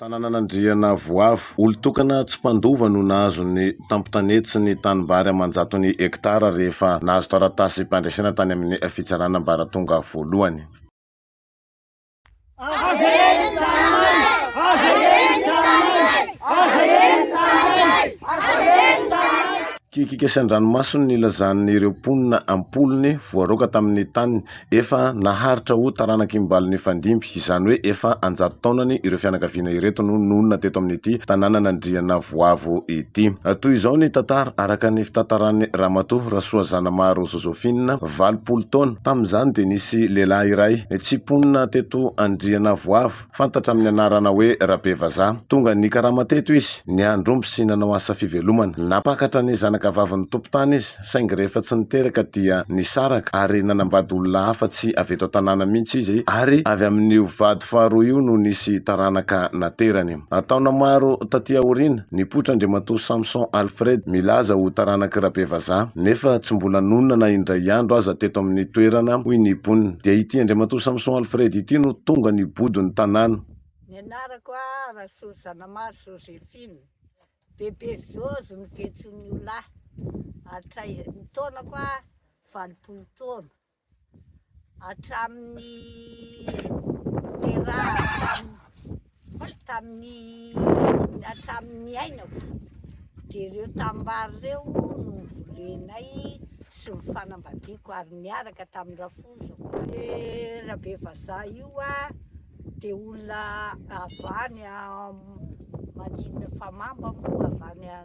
Tanànan'Andriana Avoavo. Olon-tokana tsy mpandova no nahazo ny tampontanety sy ny tanimbary aman-jatony hektara rehefa nahazo taratasim-pandresena tany amin'ny fitsarana ambaratonga voalohany. Kikika sy an-dranomasony nilazan'ireo mponina am-polony voaroaka tamin'ny taniny Efa naharitra ho taranak'i Mbali nifandimby, izany hoe efa an-jato taonany ireo fianakaviana ireto no nonina teto amin'ity tanànan'Andriana Voavo ity. Toy izao ny tantara, araka ny fitantaran'i Ramatoa Rasoazanamaro Josephine, valopolo taona, tamin'izany dia nisy lehilahy iray tsy mponina teto Andriana Voavo, Fantatra amin'ny anarana hoe Rabevazaha. Tonga nikarama teto izy, niandry omby sy nanao asa fivelomana. Nampakatra ny zanakavavin'ny tompon-tany izy, saingy rehefa tsy niteraka dia nisaraka ary nanambady olona hafa tsy avy eto an-tanàna mihitsy izy ary avy amin'io vady faharoa io no nisy taranaka naterany. Taona maro taty aoriana, Nipoitra Andriamatoa Samson Alfred milaza ho taranak'i Rabevazaha nefa tsy mbola nonina na indray andro aza teto amin'ny toerana hoy ny mponina. Dia ity Andriamatoa Samson Alfred ity no tonga nibodo ny tanàna. Ny anarako aho Rasoa Zanamary Josephine, bebe Jojo no fiantsoan'ny olona ahy. Hatray, ny taonako aho valopolo taona. hatramin'ny niterahako tamin'ny hatramin'ny niainako dia ireo tanimbary ireo no nivolenay sy ny fanambadiako ary niaraka tamin'ny rafozako. Eh, Rabe Vazaha io ah, dia olona avy any maninona fa mamba moa avy any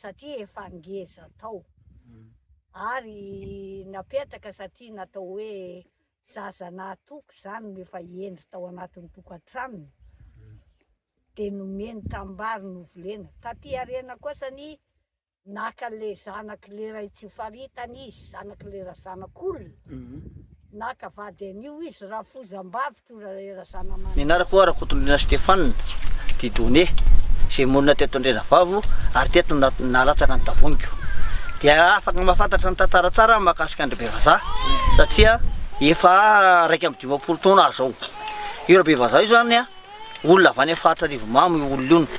satria efa ngeza tao ary napetraka satria natao hoe zaza nahatoky zany no efa hendry tao anatin'ny tokantranony de nomeny tambary novolena, taty aoriana kosa anie naka le zanaky le ray tsy faritany izy, zanaky le razanak'olona, naka vady an'io izy, rafozambavy. Ny anarako hoa Rakotondriana Stéphane Didone, izay monina teto Andrianavavo ary teto no nalatsaka ny tavoniko. Dia afaka mahafantatra ny tantara tsara aho mahakasika an-dry Bevazaha satria efa iraika amby dimampolo taona aho izao. Io Rabevazaha io izany olona avy any amin'ny faritra Arivomamo io olona io.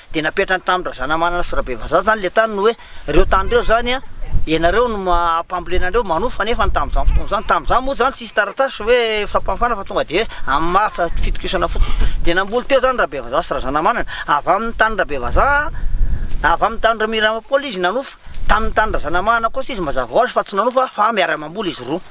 Dia napetrany tamin-dry Razanamanana sy Rabevazaha izany ilay tany no hoe, ireo tany ireo izany an, ianareo no hambolena an'ireo, manofa anefa ny tamin'izany fotoana izany. Tamin'izany moa izany tsy nisy taratasy hoe fampahafana fa tonga dia hoe amin'ny maha fitokisana fotsiny. Dia namboly teo izany Rabevazaha sy Razanamanana, avy amin'ny tanin'i Rabevazaha, avy amin'ny tanin'i Ramiramanpoly izy nanofa, tamin'ny tanin'i Razanamanana kosa izy mazava ho azy fa tsy nanofa fa miara-mamboly izy roa.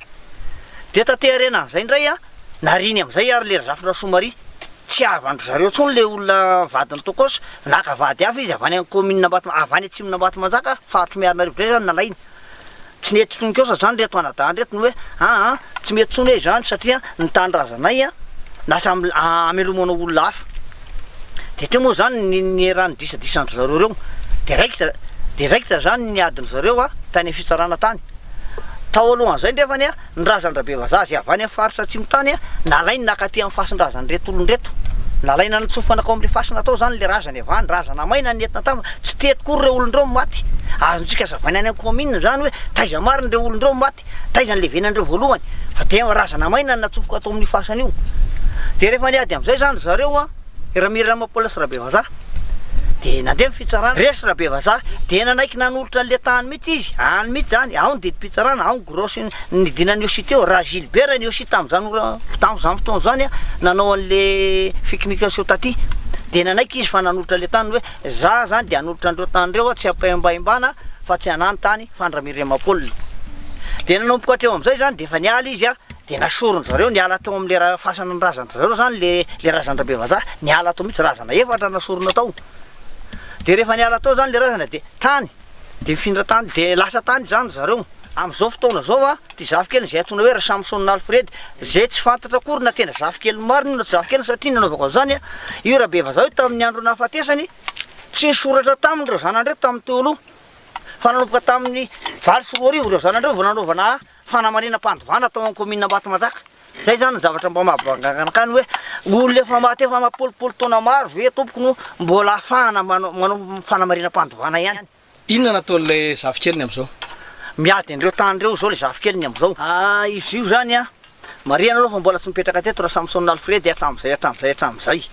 Dia taty aoriana amin'izay indray an, nariany amin'izay ary le Razafy Rasoamaria. Tsy havan-dry zareo intsony le olona vadin'i Tokosa. Naka vady hafa izy avy any amin'ny kaominina Ambato, avy any atsimon'i Ambatomanjaka, faritry Miarinarivo indray izany nalainy. Tsy nety intsony kosa izany ireto anadahy ireto no hoe aa tsy mety intsony hoe izany satria ny tanindrazanay an, lasa hamelomanao olona hafa. de teo moa zany ny nieran'ny disadisandry zareo reo de raikitra de raikitra zany ny adiny zareo a tany am fitsarana tany tao alohan'izay ndrefany a ny razandrabe vazaha zay avy any am faritra atsimo tany a nalainy nakaty am fasindrazany reto olony reto nalaina nitsofana tao amle fasina tao zany le razany avy any razana maina ny entina tam tsy teto koa reo olony reo maty azontsika azavaina any am kaominina zany hoe taiza marina reo olony reo maty Taiza ny levenan'ireo voalohany? Fa dia razana maina ny natsofoka tao amin'ny fasana io. Dia rehefa niady amin'izay izany ry zareo, an, i Ramiramopola sy Rabevazaha, dia nandeha ny fitsarana. Resy Rabevazaha, dia nanaiky nanolotra an'ilay tany mihitsy izy, any mihitsy izany, ao ny didim-pitsarana, ao ny gros-ny nidina an'i Iosia teo. Raha Gilbert an'i Iosia tamin'izany ora, tamin'izany fotoana izany, an, nanao an'ilay fikinikanseho taty, dia nanaiky izy fa nanolotra ilay tany hoe, Izaho izany dia hanolotra an'ireo tany ireo, an, tsy am-pahembahembana, fa tsy hanano tany. Fandramiriam-Paoly. Dia nanomboka hatreo amin'izay izany dia efa niala izy an, dia nasoron-dry zareo niala tao amin'ilay ra- fasana ny razan-dry zareo izany ilay ilay razan-dRabe Vazaha, niala tao mihitsy, razana efatra no nasorona tao. Dia rehefa niala tao izany ilay razana dia tany, dia nifindra tany, dia lasa tany izany ry zareo. Amin'izao fotoana izao an, ity zafikeliny izay antsoina hoe Rasamison Alfred, izay tsy fantatra akory na tena zafikeliny marina io na tsy zafikeliny satria nanaovako an'izany an, io Rabe Vazaha io tamin'ny andro nahafatesany, tsy nisoratra taminy ireo zanany ireo tamin'ny teo aloha. fa nanomboka tamin'ny valo sy roa arivo ireo zanany ireo vao nanaovana fanamarinam-pandovana tao amin'ny kaominina Ambatomanjaka. Izay izany ny zavatra mba mahabanganakany hoe olona efa maty efa mampolopolo taona maro ve tompoko no mbola ahafahana manao fanamarinam-pandovana ihany. Inona no ataon'ilay zafikeliny amin'izao? Miady an'ireo tany ireo izao ilay zafikeliny amin'izao. Ah, izy io izany an, marihana aloha fa mbola tsy nipetraka teto Rasamson Alfred hatramin'izay hatramin'izay hatramin'izay.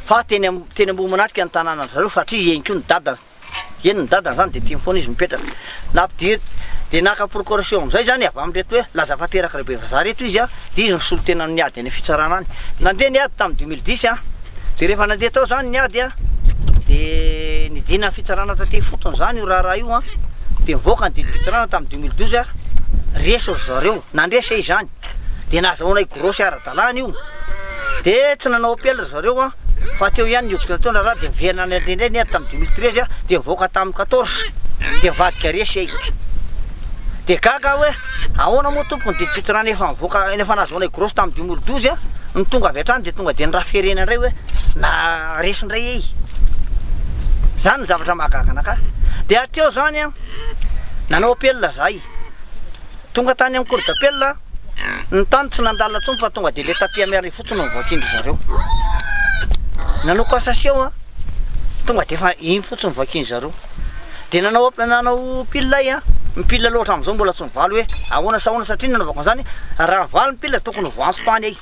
Fa teny teny Ambohimanatrika ny tanànan-dry zareo fa hatria eny koa ny dadany. Eny ny dadany zany dia tiany foana izy mipetraka. Nampidir dia naka procuration amin'izay zany avy amin'ireto hoe laza fa terak reo bevazaha reto izy an, dia izy no solontena amin'ny ady any amin'ny fitsarana any. Nandeha ny ady tamin'ny deux mille dix an, dia rehefa nandeha tao zany ny ady an, dia nidina ny fitsarana taty ifotony zany io raharaha io an, dia nivoaka ny didim-pitsarana tamin'ny deux mille douze an, resy ry zareo, nandresy e izany. dia nazahoanay grosy ara-dalàna io, dia tsy nanao appel ry zareo an, fa teo ihany ny hoditrana teo ny raharaha dia niverina any an-drenirey ny ady tamin'ny deux mille treize an, dia nivoaka tamin'ny quatorze, dia nivadika resy ay, dia gaga aho hoe ahoana moa tompoko ny didipotsy raha ny efa nivoaka, ny efa nazahoanay grosy tamin'ny deux mille douze an, ny tonga avy hatrany dia tonga dia ny raha firenena indray hoe na resy indray ey, zany ny zavatra mahagaga anakahy, dia hatreo zany an, nanao appel zahay. Tonga tany amin'ny cour d'appel aho, ny tany tsy nandalina intsony fa tonga dia le tapis à merre fotsiny no novakian-dry zareo. Nanao cassation aho, tonga dia efa iny fotsiny no vakian-dry zareo. Dia nanao nanao pile aho an, ny pile aloha hatramin'izao mbola tsy mivaly hoe ahoana sy ahoana satria ny nanaovako an'izany raha mivaly ny pile dia tokony ho voantso tany ahy.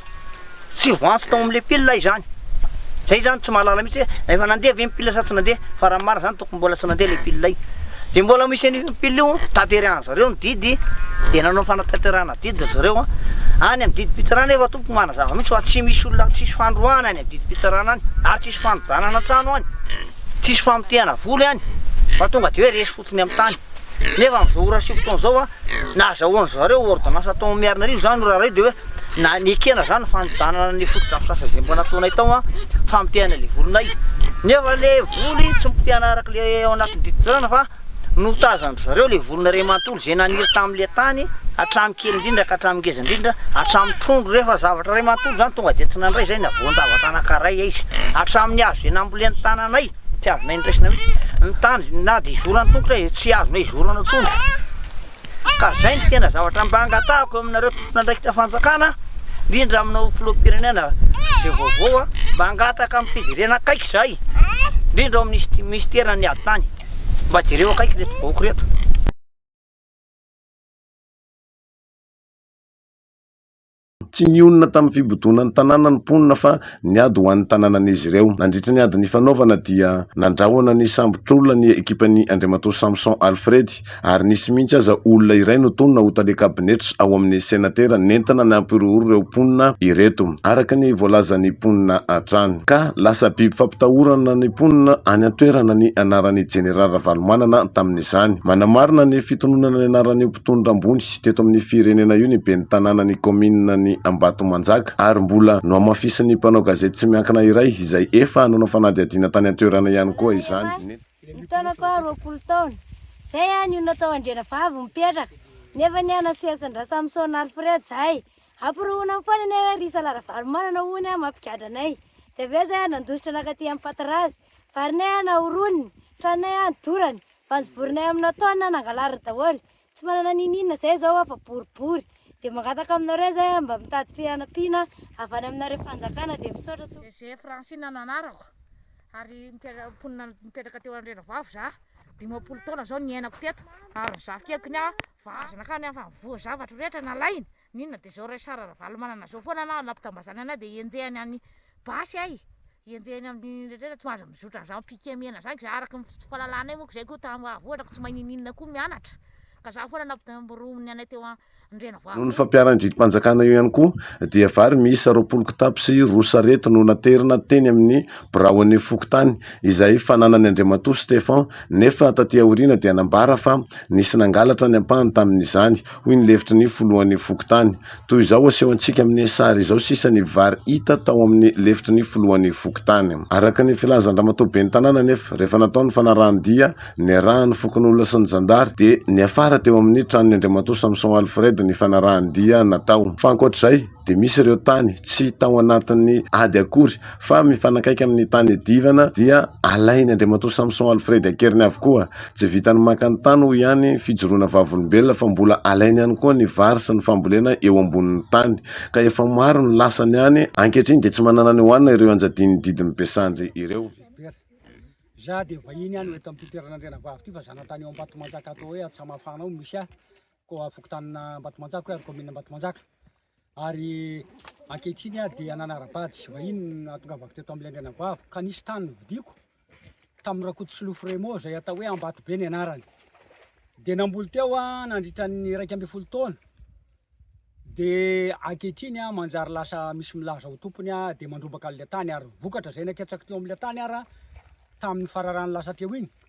Tsy voantso tao amin'ilay pile izany. Zay izany tsy mahalala mihitsy hoe efa nandeha ve ny pile sa tsy nandeha fa raha ny marina izany tokony mbola tsy nandeha ilay pile iny. Dia mbola misy an'io pile io tanterahany zareo ny didy dia nanao fanatanterahana didy ry zareo an. Any amin'ny didim-pitsarana efa tompoko manazava mihitsy fa tsy misy olona tsisy fandroahana any amin'ny didim-pitsarana any ary tsisy fanodanana trano any, tsisy famotehana vola any fa tonga dia hoe resy fotsiny. Tony amin'ny tany. Nefa amin'izao ora sivy taona izao, nahazahoan-dry zareo ôrdônansa tao Miarinarivo izany no raharaha io, dia hoe na nekena izany ny fanodanana ny fotodrafitrasa izay mba nataonay tao, fampitehana ilay volinay. Nefa ilay voly tsy mipotehana araka ilay ao anatin'ny didim-pizarana fa notazan-dry zareo ilay volinay iray manontolo izay naniry tamin'ilay tany hatramin'ny kely indrindra ka hatramin'ny ngeza indrindra, hatramin'ny trondro rehefa zavatra iray manontolo izany tonga dia tsy nandray izay na voan-javatra anankiray aiza, hatramin'ny hazo izay nambolen'ny tananay. Tsy azonay niraisina mihitsy ny tany na dia izoro an-tongotra aza tsy azonay izorana intsony ka izay no tena zavatra mba angatahako aminareo tompon'andraikitra fanjakana indrindra aminao filoham-pirenena izay vaovao mba hangataka amin'ny fijerena akaiky izahay indrindra ao amin'ny minisiteran'ny ady tany mba jereo akaiky ireto vahoaka ireto. Tsy nionona tamin'ny fibodonan'ny tanàna ny mponina fa niady ho an'ny tanànan'izy ireo. Nandritra ny ady nifanaovana dia nandrahona ny sambotr'olona ny ekipan'i Andriamatoa Samson Alfredy ary nisy mihitsy aza olona iray notonona ho tale kabinetra ao amin'ny senatera nentina nampihorohoro ireo mponina ireto araka ny voalazan'ny mponina hatrany ka lasa biby fampitahorana ny mponina any an-toerana ny anaran'ny Jeneraly Ravalomanana tamin'izany. Manamarina ny fitononana ny anaran'io mpitondra ambony Teto amin'ny firenena io ny ben'ny tanàna ny kaominina ny Ambatomanjaka ary mbola nohamafisin'ny mpanao gazety tsy miankina iray izay efa nanao fanadihadiana tany an-toerana ihany koa izany. Ny taona faha roapolo taona, izay an io natao andrianavavy mipetraka, nefa ny an'i Selsindra-Samson Alfred izay, amporohonany foana anie hoe ry Isala Ravalomanana hono an mampigadra anay. Dia avy eo izay an nandositra nankaty amin'ny Patarazy, varinay an nahoroniny, tranonay an dorany, vanjoborinay amina taonina an nangalariny daholo, Tsy manana n'inon'inona izay izao aho fa boribory dia mangataka aminareo izay aho mba mitady fianampiana avy any aminareo fanjakana dia misaotra tompoko. DG, Francine no anarako ary mponina mipetraka teo Andraindravav za, dimampolo taona zao niainako teto ary ny zafikely k'ne vazana k'any afa nivoha zavatro rehetra nalainy, N'inona de zao Raisara Ravalomanana zao foana anao nampitambazana anay de enjehany any basy ay, enjehany aminy retrretra tsy mahazo mizotra anzany piquet mena zany ko za araka ny fahalalanay moko zay ko ta hahavoatra ko tsy mahay ninininona ko mianatra ka za foana nampitamboromin'ny anay teo Andrianavohitra. Noho ny fampiharan-dridimpanjakana eo ihany koa dia vary miisa roapolo kitapo sy roa sarety no naterina teny amin'ny birao an'io fokontany izay fananan'i Andriamatoa Stephan nefa taty aoriana dia nambara fa nisy nangalatra ny ampahany tamin'izany hoy ny lefitry ny filohan'ny fokontany. Toy izao asehontsika amin'ny sary izao sisa ny vary hita tao amin'ny lefitry ny filohan'ny fokontany. Araka ny filazan-dramatoa ben'ny tanàna anefa, rehefa natao ny fanarahan-dia niarahan'ny fokonolona sy ny zandary dia niafara teo amin'ny tranon'ny Andriamatoa Samson Alfred ny fanarahan-dia natao. Fa ankoatr'izay, dia misy ireo tany tsy tao anatin'ny ady akory fa mifanakaiky amin'ny tany iadivana dia alainy Andriamatoa Samson Alfred an-keriny avokoa. Tsy vitan'ny maka ny tany hoy ihany fijoroana vavolombelona fa mbola alainy ihany koa ny vary sy ny fambolena eo ambonin'ny tany ka efa maro ny lasany any ankehitriny dia tsy manana ny hohanina ireo anjadian'ny didin'ny Besandry ireo. Izaho dia vahiny ihany eto amin'ity toerana Andrianavavy ity fa zanatany eo Ambatomanjaka atao hoe Antsamafana ao no misy ahy. koa fokontanina Ambatomanjaka hoe ary kaominina Ambatomanjaka ary ankehitriny aho dia nanara-bady sy vahiny nahatongavako teto amin'ny Lendrenabavo ka nisy tany novidiako tamin'ny Rakoto Solofo Remo izay atao hoe Ambatobe ny anarany dia namboly teo aho nandritra ny iraika ambin'ny folo taona dia ankehitriny aho manjary lasa misy milaza ho tompony aho dia mandrobaka an'ilay tany ary vokatra izay naketsako teo amin'ilay tany ara tamin'ny fararano lasa teo iny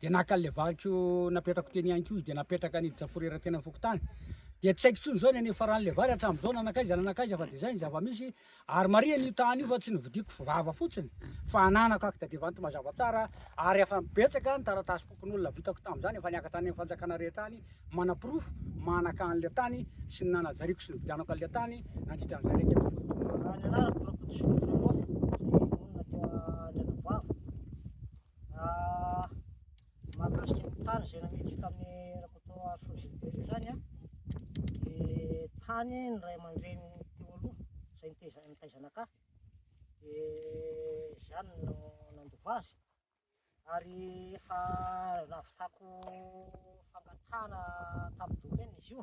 dia naka an'ilay valiko napetrako teny ihany koa izy dia napetraka ny jafurera teny amin'ny fokontany dia tsy haiko intsony izao ny any faran'ilay vary hatramin'izao nanakaiza nanakaiza fa dia izay ny zava-misy ary marihana io tany io fa tsy novidiko vava fotsiny fa ananako akta dia vanto mazava tsara ary efa betsaka ny taratasy pokon'olona vitako tamin'izany efa niakatra any amin'ny fanjakana rehetra any manaporofo manaka an'ilay tany sy ny nanajariako sy ny vidanako an'ilay tany nandritra an'izay rehetra tsy voadona. Raha ny anarako Rakotosolofolofa, dia monina teo Andranavavo. Mahakasika ny tany izay namidiko tamin'ny Rakotoarisoa Gilbert izany an, dia tany ny ray aman-dreny teo aloha izay nitaiza nitaiza anakahy dia izany no nandova azy ary efa nahavitako fangatahana tamin'ny domaine izy io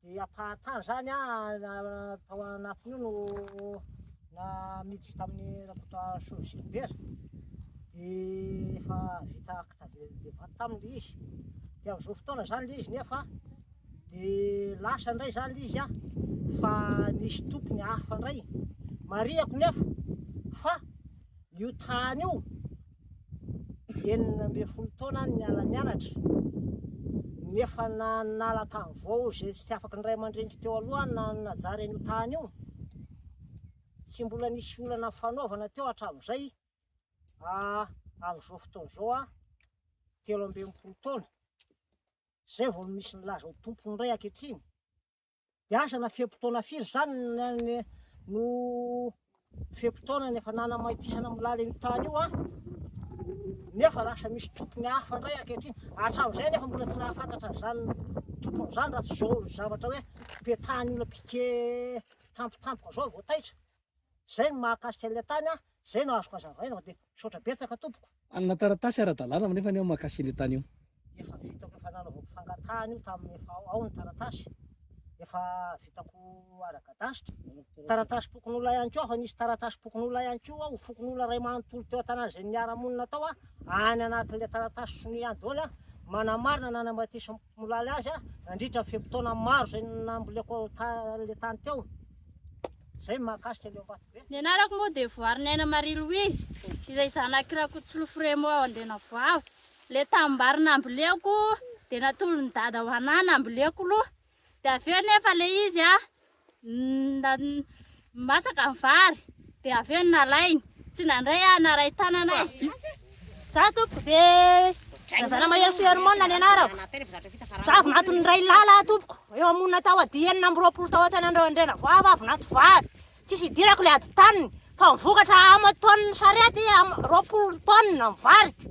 Dia ampahan-tany izany an, tao anatin'io no namiditra tamin'i Rakotoarisoa Gilbert, dia efa vita acte de de vente taminy ilay izy, dia amin'izao fotoana izany ilay izy nefa dia lasa indray izany ilay izy an, fa nisy tompony hafa indray, marihako nefa fa io tany io, enina ambin'ny folo taona no niala nianatra nefa na nala tany vao izay tsy afaka ny ray aman-dreniko teo aloha na najary an'io tany io tsy mbola nisy olana fanaovana teo hatramin'izay ah, amin'izao fotoana izao ah telo ambin'ny folo taona izay vao misy nilaza ho tompony indray ankehitriny Hiasa na fe-potoana firy izany no fe-potoanany efa nanamaitisana milala io tany io an! nefa lasa misy tompony hafa indray ankehitriny, hatramin'izay anefa mbola tsy nahafantatra an'izany tompony izany raha tsy izao zavatra hoe petahany olona piquet tampotampoka izao vao taitra. Zay ny mahakasika ilay tany a, zay no azoko azavaina fa dia misaotra betsaka tompoko. Hanana taratasy ara-dalàna anefa ny aho mahakasika an'io tany io. Efa vitako efa nanaovako fangatahana io tamin'ny efa ao ny taratasy efa vitako ara-gadasitra. Taratasy fokonolona ihany koa aho fa nisy taratasy fokonolona ihany koa aho fokonolona iray manontolo teo an-tanàna izay niara-monina tao aho any anatin'ilay taratasy sonia ihany daholo a, manamarina nanamatisan'i. Nolaly azy aho nandritra ny fe-potoana maro izay namboleko ilay tany teo. Izay ny mahakasika ny ao Ambatobe. Ny anarako moa dia Voarinaina Marie Louise, izay zanak'i Rakotosolofo Remo ao Andrianavoavo. Ilay tanimbary namboleko dia natolon'i Dada ho an'ahy namboleko loha. Dia avy eo nefa ilay izy masaka ny vary dia avy eo nalainy tsy nandray aho naray tanana izy za tompoko dia zara mahery sy hermona ny anarako za avy nato ny ray lala tompoko eo amonina tao ady enina amby roapolo tao an-tanan'ireo andrena voava avy nato vary tsisy idirako le ady taniny fa mivokatra aman-taoniny sarety roapolo taonina ny variko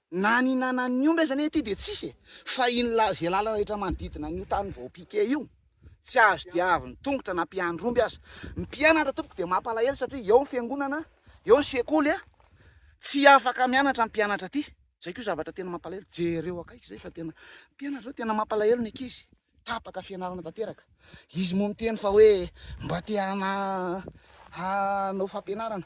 Na ny nanan'ny omby aza anie ity dia tsisy e! Fa iny la ze lala rehetra manodidina an'io tany vao piquer io, tsy azo diavin'ny tongotra na mpiandry omby aza. Ny mpianatra tompoko dia mampalahelo satria eo ny fiangonana, eo ny sekoly a! Tsy afaka mianatra ny mpianatra aty. Zay ko zavatra tena mampalahelo. Jereo akaiky zay fa tena mpianatra zao tena mampalahelo ny ankizy. Tapaka fianarana tanteraka. Izy moa miteny fa hoe mba te hana hanao fampianarana.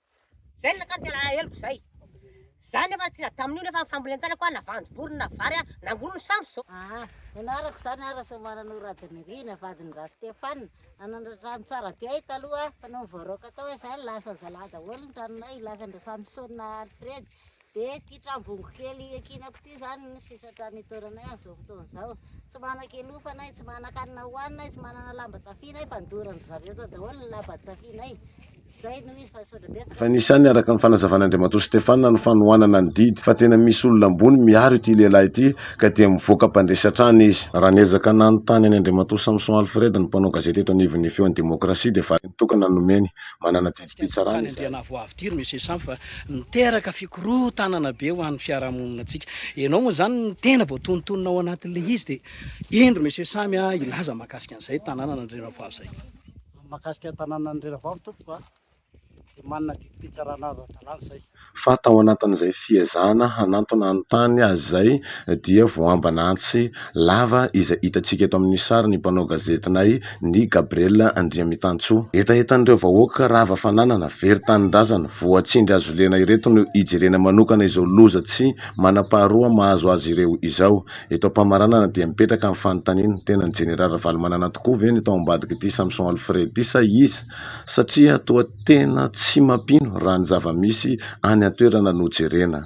Zay nankany ty alaheloko zay. Za nefa tsy nadamin'io nefa fambolen-janako a, na voanjobory na vary a, nangory ny sambo zao. Aa, nianarako izany aho Rasoamananoro Radomelina, vadin'i Ra-Stéphane. Nanandratrano tsara be ahy taloha fa nony voaraoka tao aho izany, lasan'ny zalahy daholo ny tranonay, lasan'i Ra-Samson Alfred, Be ity trambongo kely iankinako ity izany ny sesatra nitoeranay an'izao fotoana izao. Tsy manan-kialofana ay, tsy manan-kanina hohanina ay, tsy manana lamba tafiana ay fa nodorandry zareo tao daholo ny lamba tafianay. Izay no izy fa saotra betsaka. Efa nisy ihany araka ny fanazavan'Andriamatoa Stefana ny fanohanana ny didy fa tena misy olona ambony miaro ity lehilahy ity ka dia mivoaka mpandresy hatrany izy. Raha niezaka nanontany an'i Andriamatoa Samson Alfred ny mpanao gazety eto anivon'ny Feon'ny Demokrasia dia valiny tokana no nomeny. Manana didim-pitsarana izahay. Tsy dia nahavoa avy ity ry Monsieur Samp fa Miteraka fikorotanana be ho an'ny fiarahamoninantsika. Ianao moa izany ny tena voatonontonona ao anatin'ilay izy dia indro Monsieur Samy a hilaza mahakasika an'izay tanànan'Andry Ravavy izay. Mahakasika ny tanànan'Andry Ravavy tompoko a dia manana didim-pitsarana ara-dalàna izay. Fa tao anatin'izay fiezahana hanantona ny tany azy izay dia voambana antsy lava izay hitantsika eto amin'ny sary ny mpanao gazetinay, Ny Gabriel Andriamitantsoa. Hetahetan'ireo vahoaka rava fananana, very tanindrazana, voatsindry hazolena ireto no hijerena manokana izao loza tsy manam-paharoa mahazo azy ireo izao. Eto am-pamaranana dia mipetraka ny fanontaniana, tena ny Jeneraly Ravalomanana tokoa ve no tao ambadik'ity Samson Alfred ity sa iza? Satria toa tena tsy mampino raha ny zava-misy any an-toerana no jerena.